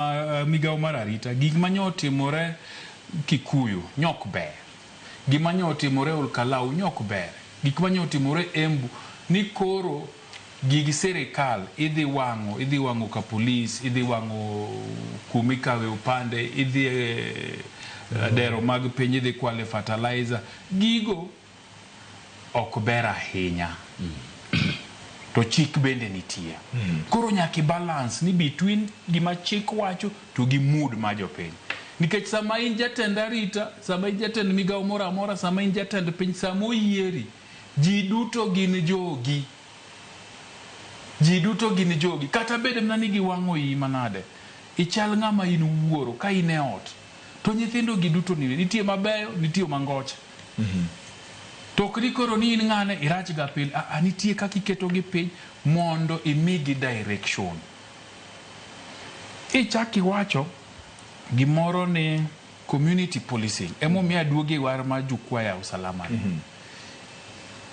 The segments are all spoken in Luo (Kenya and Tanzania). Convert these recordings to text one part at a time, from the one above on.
Uh, migawo mar arita gik ma nyo otimore Kikuyu nyok ber, gik ma nyo otimore Olkalau nyok ber, gik ma nyo otimore Embu ni koro gig sirikal idhi wang'o, idhi wang'o ka polis, idhi wang'o kuma ikawe opande, idhi e, eh, dero mag piny, idhi kwale fertilizer. Gigo ok ber ahinya to chik bende nitie. Koro nyaka i balance ni between gima chik wacho to gi mood mar jopiny. Nikech sama in jatend arita, sama in jatend migawo moro amora, sama in jatend piny, sama oyieri, ji duto gin jogi. Ji duto gin jogi. Kata bed mana ni giwang'o iyi manade, ichal ng'ama in wuoro ka in e ot to nyithindo gi duto ni, nitie mabeyo, nitie mangoche. To ok ni koro ni in ng'ane irach ga pile a a nitie kaka iketo gi piny mondo imigi direction. Ichak iwacho gimoro ni community policing emomiyo aduogo e war mar jukwaa ya usalama ni.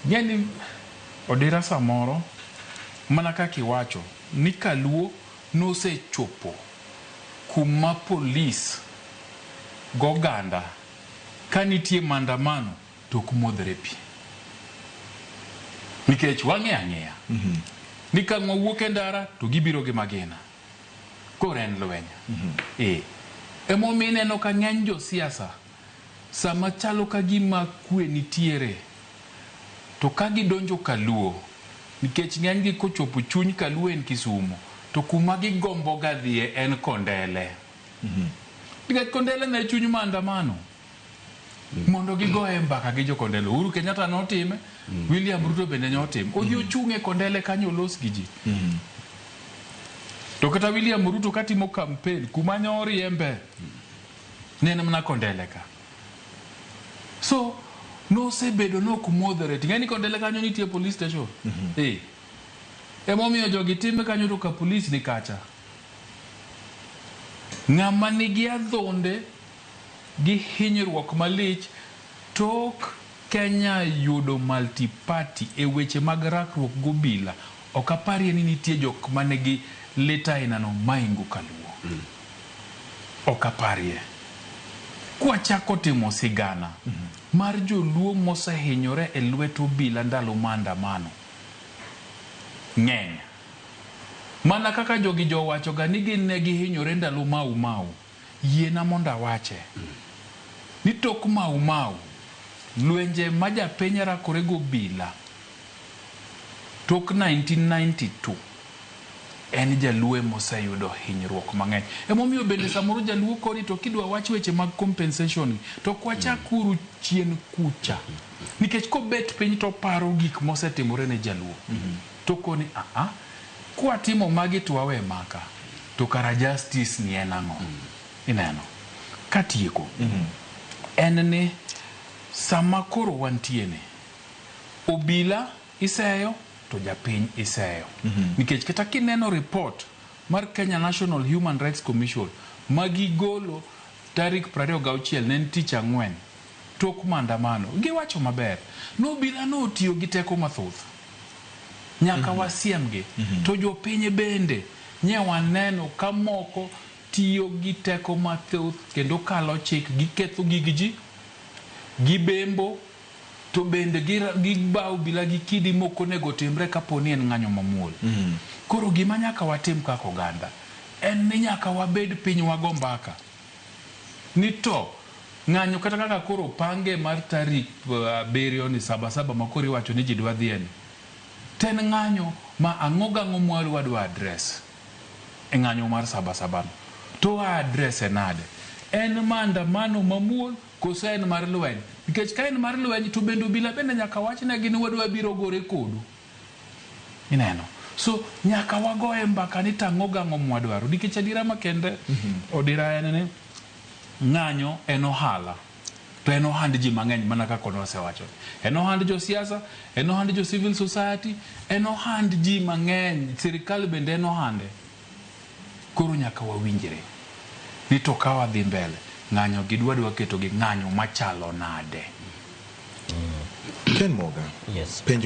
Ing'e ni odira samoro mana kaka iwacho ni kaluo nosechopo kuma police goganda. Ka nitie mandamano to ok modhre pi. Nikech wang'eyo ang'eya ni ka ng'wa wuok e ndara to gibiro gi magina. Koro en lweny. Ee. Emomiyo ineno ka ng'eny jo siasa sama chalo ka gima kwe nitiere to ka gidonjo kaluo nikech ng'enygi kochopo chuny kaluo en kisumo to kuma gigomboga dhiye en kondele. Nikech Kondele ne chuny maandamano mondo gigoye mbaka gi jokondele. Uhuru Kenyatta notime, William Ruto bende notime. Odhi ochung' e Kondele kanyo olos gi ji. To kata William Ruto katimo kampen kuma nyo oriembe ne en mana Kondele ka. So nosebedo ni ok moderate. Ing'e ni Kondele kanyo nitie police station? Eh. Emomiyo jogi time kanyo to ka police ni kacha. Ng'ama nigi adhonde gi hinyruok malich tok Kenya yudo multi party e weche mag rakruok gobila ok aparie ni nitie jok manigi lit ainano maingo kaluo. Ok aparie. Kwachako timo sigana mar joluo mosehinyore e lwet obila ndalo maandamano ng'eny. Mana kaka jogi jo wachoga ni gin ne gihinyore ndalo Mau Mau, yiena mondo awache, ni tok Mau Mau, lwenje ma japiny rakore gobila tok nineteen ninety two, en jaluo ema oseyudo hinyruok mang'eny. Ema omiyo bende samoro jaluo koni to kidwa wach weche mag compensation gi, to ok wachak uru chien kucha. Nikech kobet piny to oparo gik mosetimore ne jaluo. To koni aa, kwatimo magi to wawe maka, to kara justice ni en ang'o? Ineno? Katieko, en ni sama koro wantie ni, obila iseyo to japiny iseyo. Nikech kata kineno report mar Kenya National Human Rights Commission ma gigolo tarik prariyo gauchiel, ne en tich ang'wen. Tok maandamano, giwacho maber ni obila no otiyo gi teko mathoth. Nyaka wasiemgi. To jopiny bende nye waneno ka moko tiyo gi teko mathoth kendo kalo chik, giketho gig ji, gibembo to bende gibawo obila gi kidi mok onego otimre kapo ni en ng'anyo mamuol. Koro gima nyaka watim kaka oganda en ni nyaka wabed piny wago mbaka. ni to ng'anyo kata kaka koro opange mar tarik abiriyo ni saba saba ma koro iwacho ni ji dwa dhiye ni, to en ng'anyo ma ang'o gi ang'o ma wadwa address e ng'anyo mar saba saba no. To wa address-e nade? En maandamano mamuol koso en mar lweny? Nikech ka en mar lweny to bende obila bende nyaka wachnegi ni wadwa biro gore kodu. Ineno? So nyaka wagoye mbaka ni to ang'o gang'o mwadwaro. Nikech adiera makende odira en ni ng'anyo en ohala. To en ohand ji mang'eny mana kaka ne wasewacho. En ohand jo siasa, en ohand jo civil society, en ohand ji mang'eny. Sirkal bende en ohande. Koro nyaka wawinjre ni to ka wadhi mbele, ng'anyo gi dwa dwa keto gi ng'anyo machalo nade. Ken Moga, Yes. penjo